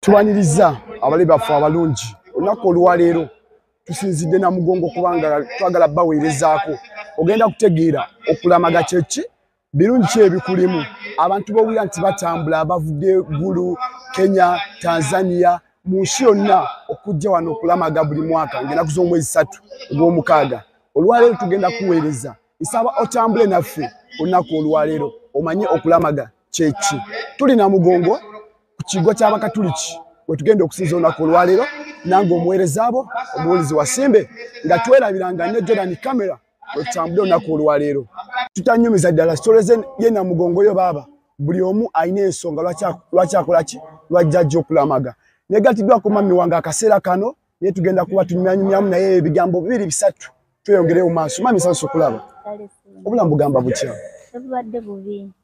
tubaniriza abali baffe abalungi olunaku olwaleero tusinzidde na mugongo kubanga twagala baweerezaako ogenda kutegeera okulamaga kyeki birungi ki ebikulimu abantu bowulira nti batambula abavudde gulu kenya tanzania mu nsi yonna okujja wano okulamaga buli mwaka ngaenaku z'omwezi satu ogw'omukaaga olwaleero tugenda kuweereza nsaba otambule naffe olunaku olwaleero omanye okulamaga kyeki tuli na mugongo ku kigo ky'abakatuliki we tugenda okusinza olunaku olwaleero nange omuweereza abo omuwulizi wasimbe nga twerabiranga ne jordan camera we tutambudde olunaku olwaleero tutanyumiza ddala sitoleze ye na mugongo yo baaba buli omu alina ensonga lwaki akola ki lwajjajja okulamaga negatiddwako mami wange akaseera kano naye tugenda kuba tunyumyanyumyamu naye ebigambo bibiri bisatu tweyongereyo mu maaso mami sansi okulaba obulamu bugamba butya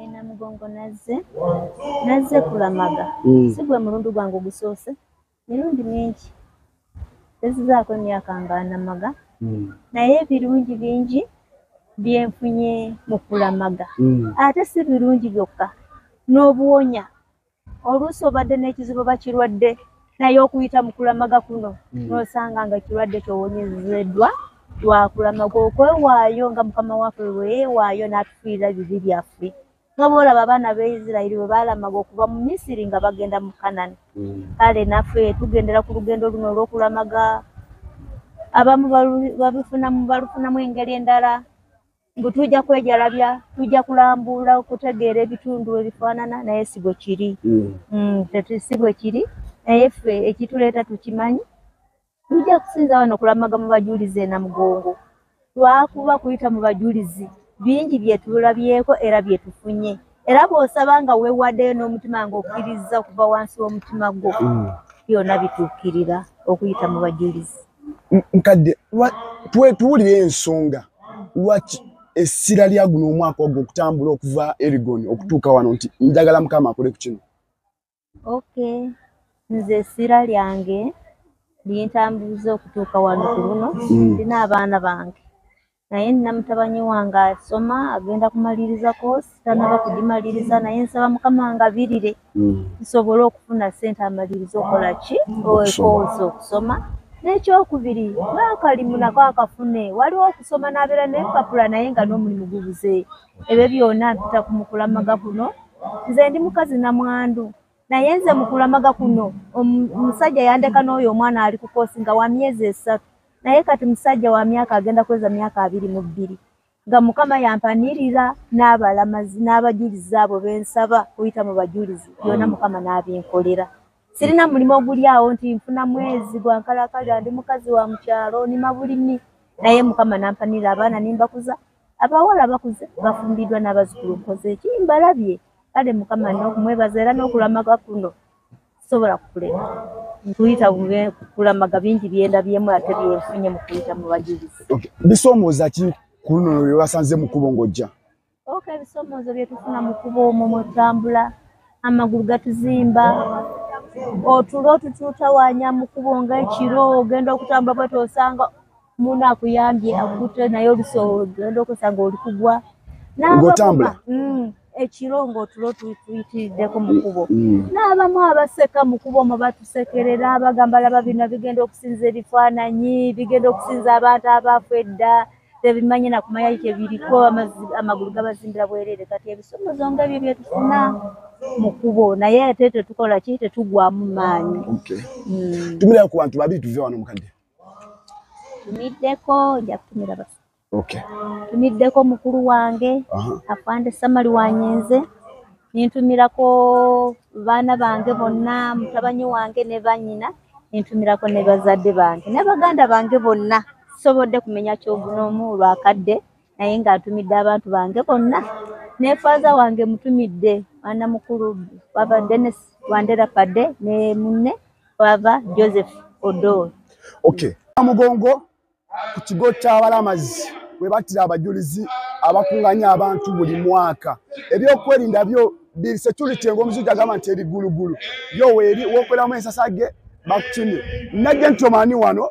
e namugongo nazze nazze kulamaga mm. si gwe mulundu gwange ogusoose mirundi mingi tezizaako emyaka nga namaga mm. naye ebirungi bingi byenfunye mu kulamaga mm. ate si birungi byokka n'obuwonya oluusi obadde n'ekizibu bakirwadde naye okuyita mu kulamaga kuno hmm. n'osanga nga ekirwadde kyowonyezeddwa lwakulamaga okwewaayo nga mukama waffe lweyewaayo n'atufiirira bibi byaffe nga bwolaba abaana ba isirairi bwe baalamaga okuva mu misiri nga bagenda mu kanani hmm. kale naffe tugendera ku lugendo luno olw'okulamaga abamu babifunamu balufunamu engeri endala mbu tujja kwejalabya tujja kulambuula okutegeera ebitundu ebifaanana naye si bwe kiri mm. Mm, si bwe kiri naye ffe ekituleeta tukimanyi tujja kusinza wano okulamaga mu bajulizi enamugongo lwakuba kuyita mu bajulizi bingi byetulabyeko era byetufunye era bw'osaba nga weewaddeyo n'omutima ng'okkirizza okuva wansi w'omutima gwo mm. byonna bituukirira okuyita mu bajulizi nkadde tuwulire ensonga lwaki essira lya guno omwaka ogwo okutambula okuva erigon okutuuka wano nti njagala mukama akole ku kino okay nze essira lyange lintambuza okutuuka wano ku luno mm. ndina abaana bange naye nina mutabanyi wange asoma agenda kumaliriza koosi tanaba kugimaliriza naye nsaba mukama ngabirire mm. nsobole okufuna sente amaliriza okola ki koosi okusoma n'ekyokubiri n'akalimu nako akafune waliwo okusoma n'abeera n'empapula naye nga n'omulimu gubuze ebyo byona mpita ku mukulamaga kuno nze ndi mukazi na mwandu naye nze mukulamaga kuno omusajja yandeka n'oyo omwana ali kukosi nga wa myezi esatu naye kati musajja wa myaka agenda kweza myaka abiri mu bbiri nga mukama yampanirira n'abalamazi n'abajulizi abo bensaba kuyita mu bajulizi byona mm. mukama n'abinkolera sirina mulimu oguli awo nti nfuna mwezi gwankalakali andi mukazi wa mukyalo nima bulimi naye mukama nampanirira abaana nimbakuza abawala bakuze bafumbiddwa n'abazukulu nkoze eki mbalabye kale mukama nokumwebaza era n'okulamaga kuno sobola kukulema nkuyita kulamaga bingi byendabyemu ate byenfunye mu kuyita mu bajulizi bisoomooza ki ku luno lwe basanze mu kubo ng'ojja oka ebisoomoozo bye tufuna mu kubo omwo mwe tutambula amagulu gatuzimba otulo otutuutawanya mu kubo nga ekiro ogenda okutambula bwete osanga Mundu akuyambye akute naye olusoogenda okusanga oli kugwa ngotambula mm, ekiro ngaotulo tuyitiriddeko mukubo mm, mm. n'abamu abaseka mukubo omo batusekerera abagamba laba bino bigenda okusinza ebifaananyi bigenda okusinza abantu abaafu edda tebimanye nakumanya kyebiriko amagulu gabazimbira bwerere kati ebisomozo nga ebyo byetufuna mukubo naye ate tetukola ki tetugwamu maanyi tumirira ku bantu babiri tuve wano mukadde tumiddeko nja kutumira bas okay. tumiddeko mukulu wange afande samali wanyenze nintumirako baana bange bonna mutabanyi wange ne banyina nintumirako ne bazadde bange ne baganda bange bonna sobodde kumenya kyogunoomu olwakadde naye ng'atumidde abantu bange bonna ne faaza wange mutumidde mwana mukulu wava denis wandera pade ne munne wava joseph odor okay amugongo ku kigo ky'abalamazi we battira abajulizi abakunganya abantu buli mwaka ebyokwerinda byo biri security ng'omuzungu agamba nti eri gulugulu yo weeri wokweramu ensasage bakukimye najja nti omani wano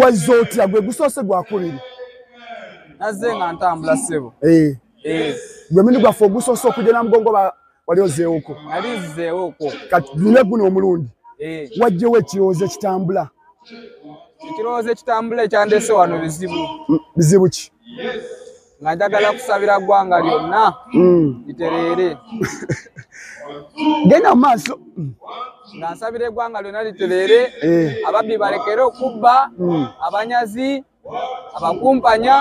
wazze otya gwe gusoose gwakubiri nazze nga ntambula ssebo eh. eh. gwe mindi gwaffe ogusoose okujja na mugongo wali ozeewoko ali nzizeewoko kati dune guno omulundi eh. wajjewo ekirowoozo ekitambula ekirowoozo ekitambula ekyandese wano bizibu bizibu ki nga njagala kusabira ggwanga lyonna mm. litereere genda mu maaso nga nsabira eggwanga lyonna litereere eh. ababbi balekere okubba mm. abanyazi abakumpanya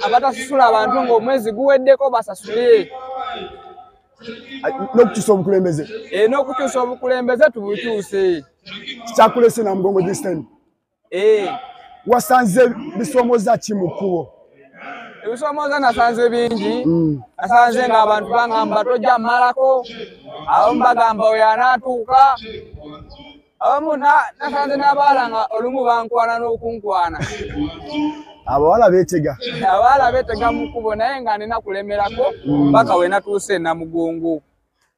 abatasasula abantu ng'omwezi guweddeko basasule n'okukyusa obukulembeze eh, n'okukyusa obukulembeze tubukyuse kyakulese namugongo distan eh. wasanze bisoomoza ki mu kkubo ebisoomoza nasanze bingi mm. nasanze nga abantu bagamba tojja mmalako abamu bagamba oyo anaatuuka abamu nasanze n'abaala nga olumu bankwana n'okunkwana abawala betega abawala betega mu kkubo naye nga nina kulemerako mm. paka we natuuse namugungu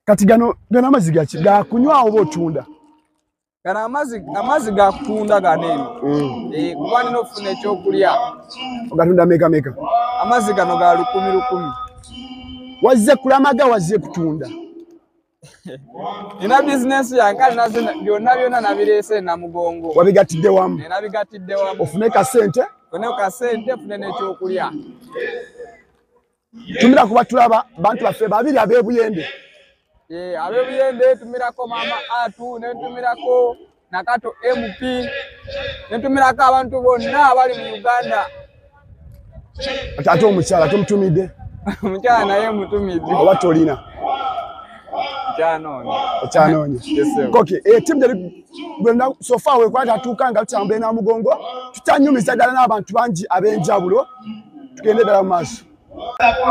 kati gano gano amazzi gaki gakunywawo oba otunda gano amazi amazi ga kutunda gano eno mm. eh, kuba nina okufuna ekyokulya ogatunda meka meka amazi gano ga lukumi lukumi wazze kulamaga wazze kutunda ina bizinesi yange kale naze byonna byonna nabireese namugongo wabigatidde wamu eh, nabigatidde wamu ofune kasente ofune kasente ofune n'ekyokulya tumira kuba tulaba bantu baffe babiri abebuyende eh, abebuyende tumirako mama atu netumirako nakato mp netumirako abantu bonna abali mu uganda ate omukyala tomutumidde omukyala naye mutumidde oba tolina okyanoonya koke etimu eh, teri gwena sofa wekwata tuuka nga tutambula enamugongo tutanyumiza ddala n'abantu bangi ab'enjawulo tugende ddala mu maaso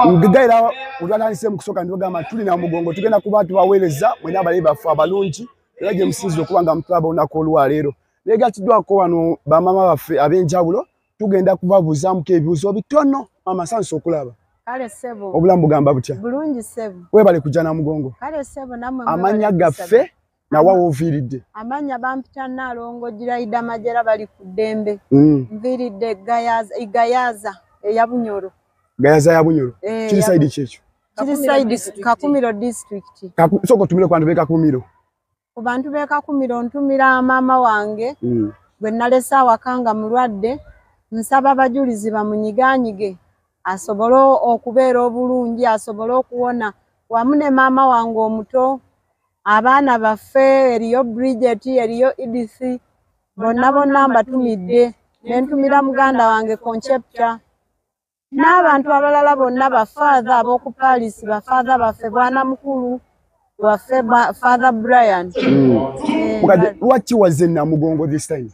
ngegayira wetwatandise mu kusooka nibagamba tuli na mugongo tugenda kuba tubaweereza mwena abalayi baffe abalungi era gye musinzira okuba nga mutulaba olunaku olwaleero naye gatiddwako wano bamaama baffe ab'enjawulo tugenda kubabuuzamuko ebibuuzo bitono maama sansi okulaba kale sebo obulamu bugamba butya bulungi sebo webale kujja na mugongo kale sebo namwe amanya gaffe nawa woviiridde amanya bampita naalongo giraida majera bali ku ddembe mm. nviiridde gayaza eya bunyoro gayaza ya bunyoro eh, kiri saidi kyekyo kiri saidi kakumiro district sooka otumire ku bantu bekakumiro ku bantu bekakumiro ntumira maama wange mm. gwe nalese awaka nga mulwadde nsaba abajulizi bamunyiganyige asobole okubeera obulungi asobole okuwona wamu ne maama wange omuto abaana baffe eriyo bridget eriyo edith bonna bonna mbatumidde nentumira muganda wange concepta n'abantu abalala bonna bafaatha ab'oku paris bafaatha baffe bwana mukulu waffe ba- father brian Eh, mukadde nga- lwaki wazze namugongo this time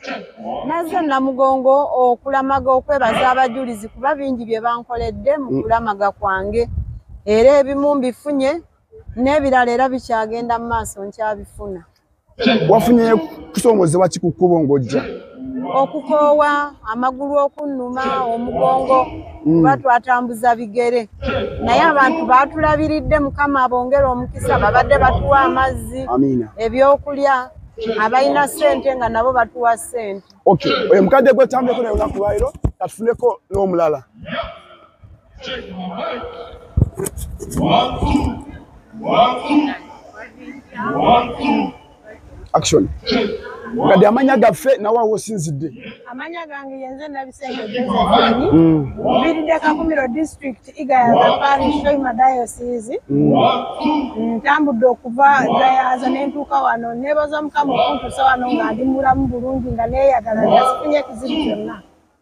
nazze namugongo okulamaga okwebaza abajulizi kuba bingi bye bankoledde mu kulamaga kwange era ebimu mbifunye n'ebirala era bikyagenda mu maaso nkyabifuna wafunye kusongozebwa ki ku kkubo ng'ojja okukoowa amagulu okunnuma omugongo mm. kuba twatambuza bigere naye abantu baatulabiridde mukama abongere omukisa babadde batuwa amazzi ebyokulya abalina sente nga nabo batuwa sente oyo mukadde gwetambuleko naye olunaku lwaliro katufuneko n'omulala action kati amanya gaffe nawe awo osinzidde amanya gange yenze nabisengeeani mm. mbiride kakumiro district igayaza parish shoima diocese mm. ntambudde okuva gayaza nentuuka wano nebaza mukama okuntusa wano nga ndi mulamu bulungi nga neyagala nga sifunye ekizibu kyonna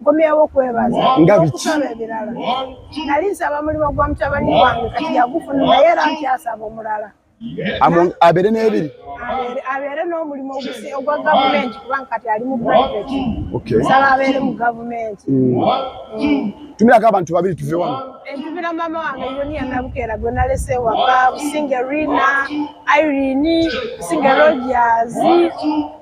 nkomyewo kwebaza nga biki ebirala nali nsaba mulimu gwa mutabani wange kati yagufuna naye era nkyasaba omulala abeere n'ebiri abeere n'omulimu ogwa gavumenti kubanga kati ali mu private nsaba abeere mu gavumenti mm. mm. tumirako abantu babiri tuve wano entubira mama wange yoniya nabukeera gwe nalese waka businge rina irene businge rogers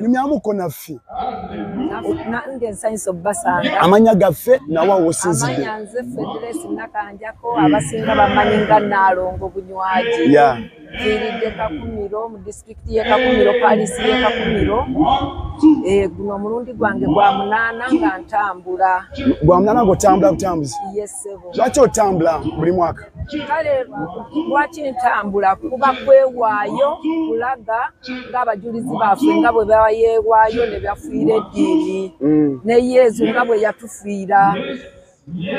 nyumyamuko naffe nange nsanyusa obubasanga amanya gaffe nawa wosinzidde amanya nze federesi nakanjako abasinga bamanyi nga naalongo bunywaji viiridde kakumiro mu disitulikiti ye kakumiro palisi ye kakumiro eh, guno omulundi gwange gwa munaana nga ntambula gwa munaana ngaotambula butambuzi lwaki otambula buli mwaka kale lwaki ntambula kuba kwewaayo kulaga ng'abajulizi baffe nga bwe bayeewaayo ne bafiira eddiini mm. ne yezu nga bwe yatufiira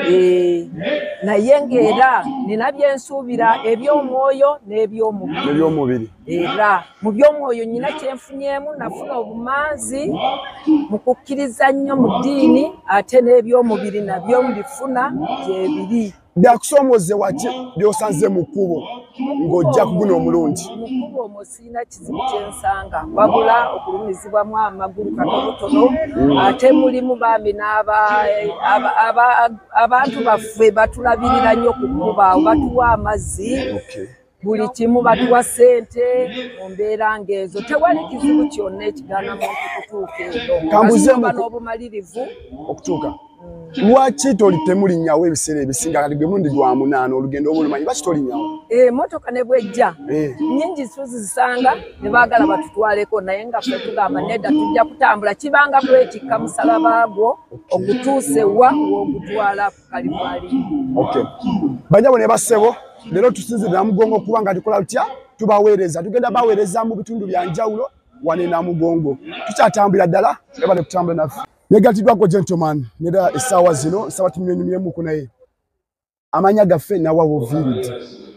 eh, naye ng'era nina byensuubira eby'omwoyo n'ebyomubiri era mu by'omwoyo nyina kyenfunyemu nafuna obumanzi mu kukkiriza nnyo mu ddiini ate n'ebyomubiri nabyo mbifuna gyebiri byakusoomoze waki byosanze mu kkubo ng'ojja kuguna omulungi mukubo omwo sirina kizibu kyensanga wabula okulumizibwamu amagulu katonotono mm. ate mulimu bambi n'abantu baffe batulabirira nnyo ku kkubaawo batuwa amazzi buli kimu batuwa ssente mu mbeera ng'ezo tewali kizibu kyonna ekigaana muntu kutuuka eyoba n'obumalirivu okutuuka mm. lwaki toli temulinyawo ebiseera ebisinga kati gwe mundi gwa munaana olugendo oba olumanyi lwaki tolinyawo emotoka eh, ne bwejja eh. nyingi tuzisanga ne baagala batutwaleko naye nga fe tugamba nedda tujja kutambula kibanga kwekikka musalaba gwo ogutuuse wa w'ogutwalako banyabo ne basebo lero tusinzira mugongo kuba nga tukola tutya tubaweereza tugenda baweereza mu bitundu bya njawulo wane na mugongo tukyatambulira ddala eba ne kutambula naffe negatiddwako gentleman nera essaawa zino nsaba tunywenyumyemuku naye amanya gaffe nawa wovirid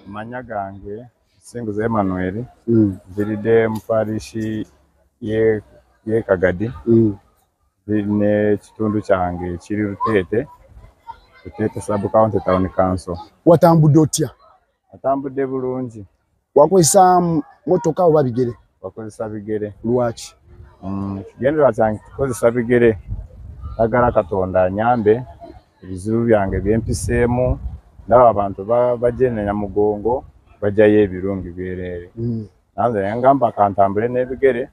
amanya gange singuza emanuel mm. nviride muparishi ye, ye kagadi mm. n'ekitundu kyange ekiri luteete luteete sub county town council watambudde otya atambudde bulungi wakozesa motoka oba bigere wakozesa bigere lwaki mm, kigendera kyange kikozesa bigere agala katonda anyambe ebizibu byange byempiseemu ndaba abantu bajenenya mugongo bajayo ebirungi byereere mm. nanze yangamba kantambule n'ebigere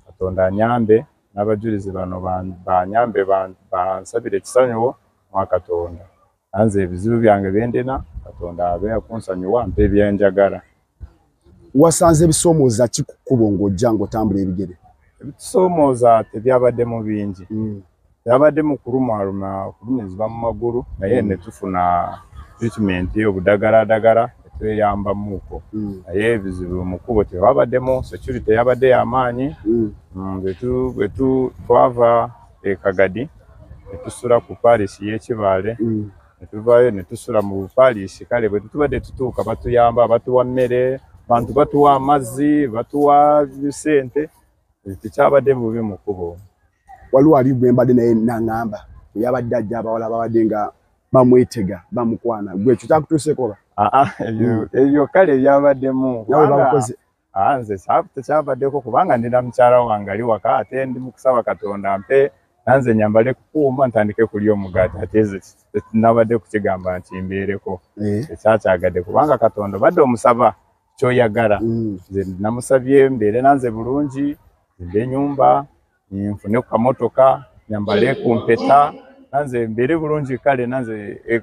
katonda anyambe n'abajulizi bano banyambe bansabire ekisanyuwo mwa katonda anze ebizibu byange byendina katonda abe akunsanyuwa mpa ebyenjagala wasanze ebisoomooza ki ku kkubo ng'ojja ng'otambula ebigere ebitusoomooza tebyabaddemu bingi mm. byabadde mu kulumaaluma okulumizibwa mu magulu naye mm. ne tufuna treatment obudagaladagala tweyambamuuko mm. naye ebizibu mu kkubo tewabaddemu security yabadde yamaanyi mm. mm, bwe twava ekagadi ne tusula ku paalisi y'ekibaale ne tuvaayo ne tusula mu paalisi kale bwe tutubadde tutuuka batuyamba batuwa mmere bantu batuwa amazzi batuwa sente tekyabadde bubi mu kkubo waliwo ali gwe mbadde naye nangamba yabadde ajja abawala babadde nga bamwetega bamukwana gwe ekyo kyakutuusekoba ah, ah, ebyo kale byabaddemu ah, nze tekyabaddeko kubanga ndina mukyala wange ali waka ate ndi mukusaba katonda mpe nanze nyambale kukuuma ntandike kulya omugaati ate ze nabadde kukigamba nti mbeereko eh. ekyakyagadde kubanga katonda obadde omusaba kyoyagala mm. nze namusabye mbeere nanze bulungi nde enyumba nfune ku kamotoka nyambale ku mpeta nanze mbeere bulungi kale nanze e,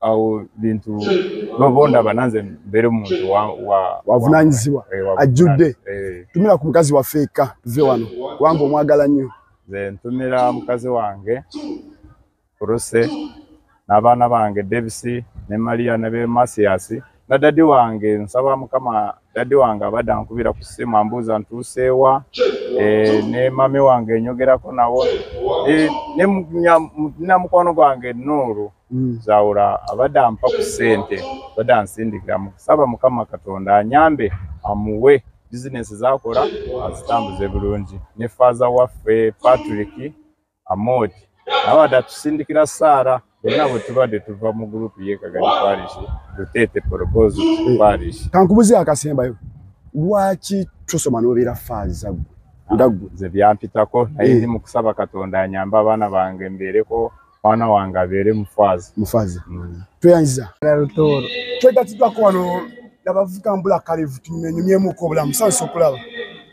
awo bintu bobondaba nanze mbeere muntu wavunanyizibwa eh, ajjudde eh. tumira ku mukazi waffe eka tuve wano kubanga omwagala nnyo nze ntumira mukazi wange Ruse n'abaana bange Davis ne Maria ne be Masias na dadi wange nsaba mukama dadi wange abadde ankubira ku ssimu ambuuza ntuuseewa e, ne mami wange enyogerako nawo e, nina mukwano gwange nuuru mm. zawula abadde ampa ku ssente abadde ansindikira musaba mukama katonda anyambe amuwe bizinesi zakola azitambuze bulungi ne faaza waffe patrick Amooti abadde atusindikira ssaala bonna bwe tubadde tuva mu gurupu yekagani parish luteete poropozi parish kankubuzi akasembayo lwaki tusoma nobeera faaza gwe ah, nga gwe nze byampitako naye eh. ndi mu kusaba katonda anyamba abaana bange mbeereko mwana wange abeere mufaazi mufaazi mm. tweyanziza lutooro twegatiddwako wano nabavuka mbula kalevu tunyumyenyumyemuko obulamu sansi okulaba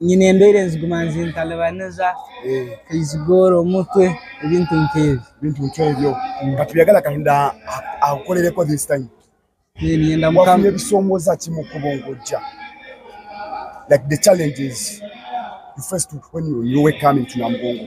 nyina embeera enziguma nzintalibaniza eh. kaizigoora omutwe ebintu nk'ebyo ebintu nk'ebyo nga tubyagala kahinda akukolereko this time wafunye ebisomooza ki mu kkubo ng'ojja like the challenges you first when you, you were coming to namugongo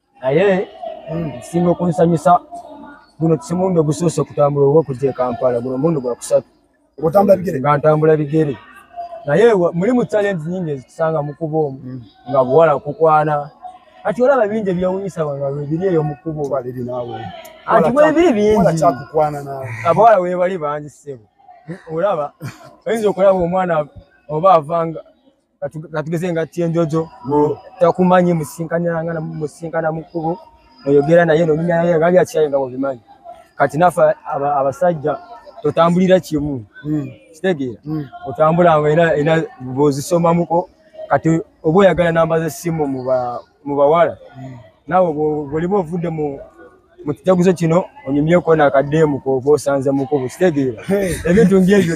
naye nsinga okunsanyusa guno simundi ogusoose okutambula oba okujja ekampala guno mundi gwa kusatu nga ntambula bigere naye mulimu challenge nyingi ezitusanga mukuba omu mm. nga buwala kukwana kati olaba bingi ebyewunyisa bano webiri eyo mukubo anti webiri bingi abawala webali bangi sebo olaba oyinza okulaba omwana oba avanga katugeze nga kyenjojo takumanyi musinkanyanga musinkana mukubo oyogera naye nominya naye nga byakyaye nga bobimanyi kati nafa abasajja totambulira kimu hmm. kitegeera hmm. otambula nga ina ozisoma muko kati oba oyagala namba zesimu muba mu bawala naawe bwoliba ovudde mu mu kijaguzo kino onyumyeko nakadeemu koba osanze mukubu kitegeera ebintu ngebyo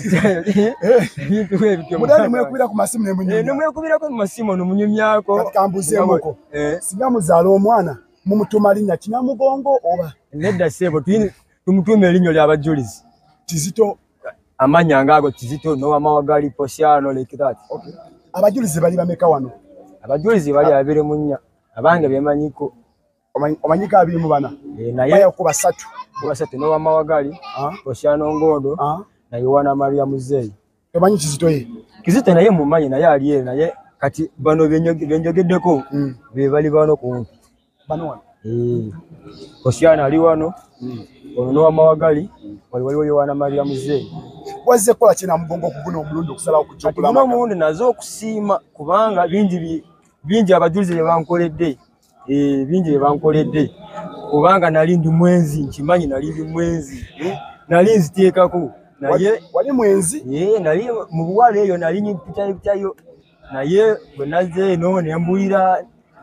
ebintu ebyonomwekubirako eh, mu masimu nomunyumyako kambuzemuko eh. singa muzaala omwana mumutuma linnya kinamugongo oba nedda seebo tumutuuma erinnyo lyabajjulizi kizito amanya nga ago kizito no amawa gali posiano like that okay abajulizi bali bameka wano abajulizi bali abere munya abange bemanyiko omanyika abiri mu bana eh, naye ku basatu ku basatu no amawa gali ah. posiano ngodo ah. na yowana maria muzeyi tomanyi kizito ye kizito naye mumanyi naye ali naye kati bano benjogeddeko mm. bebali bano kumpi bano wano mm. osiana ali wano mm. ono nowamawagali wali waliwo yowana maria muzeyi wazze kukola kina mugongo okuguna omulundi okusalawo kujogulano omulundi naze okusiima kubanga bingi bingi abajulizi byebankoledde eh, bingi byebankoledde kubanga nali ndi mwenzi nkimanyi nali ndi mwenzi eh, nali nziteekako naye wali mwenzi eh, nali mubuwala eyo nali nyipitayo naye bwe nazze eno ne mbulira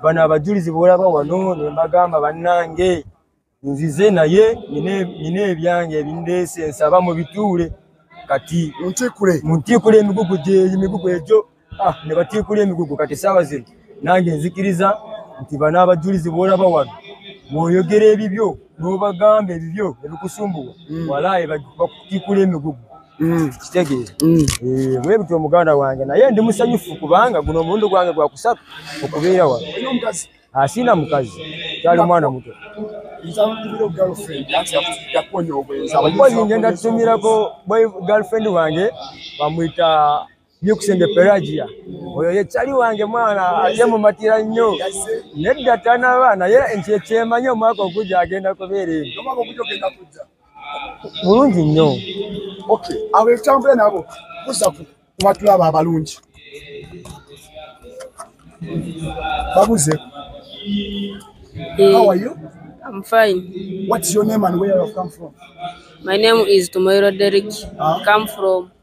bano abajulizi boolaba wano ne mbagamba bannange nzize naye nina ebyange ebindeese nsaba mu bituule kati muntiikule emigugu gyemigugu egyo ah, ne batiikula emigugu kati saawa zino nange nzikiriza nti bano abajulizi boolaba wano bwoyogera ebibyo n'obagamba ebibyo ebikusumbuwa mm. walaayi bakutiikula emigugu Mm. kitegeeza mm. eh, bwebutyo omuganda wange naye ndi musanyufu kubanga guno omulundi gwange gwa kusatu okubeera wano asiina mukazi kyali mwana muto okozi ngenda tutumirako girlfriend wange bamwita Byukusenge Pelagia oyo ye chali wange mwana ate mumatira nnyo nedda tanaba naye nti ekyemanyi omwaka ogujja agenda kubeera eno mulungi nnyo abo ekitambula nabo kuza kubatulaba abalungi babuze How are you? I'm fine. What's your name and where you come from? My name is Tumairo Derek. Huh? Come from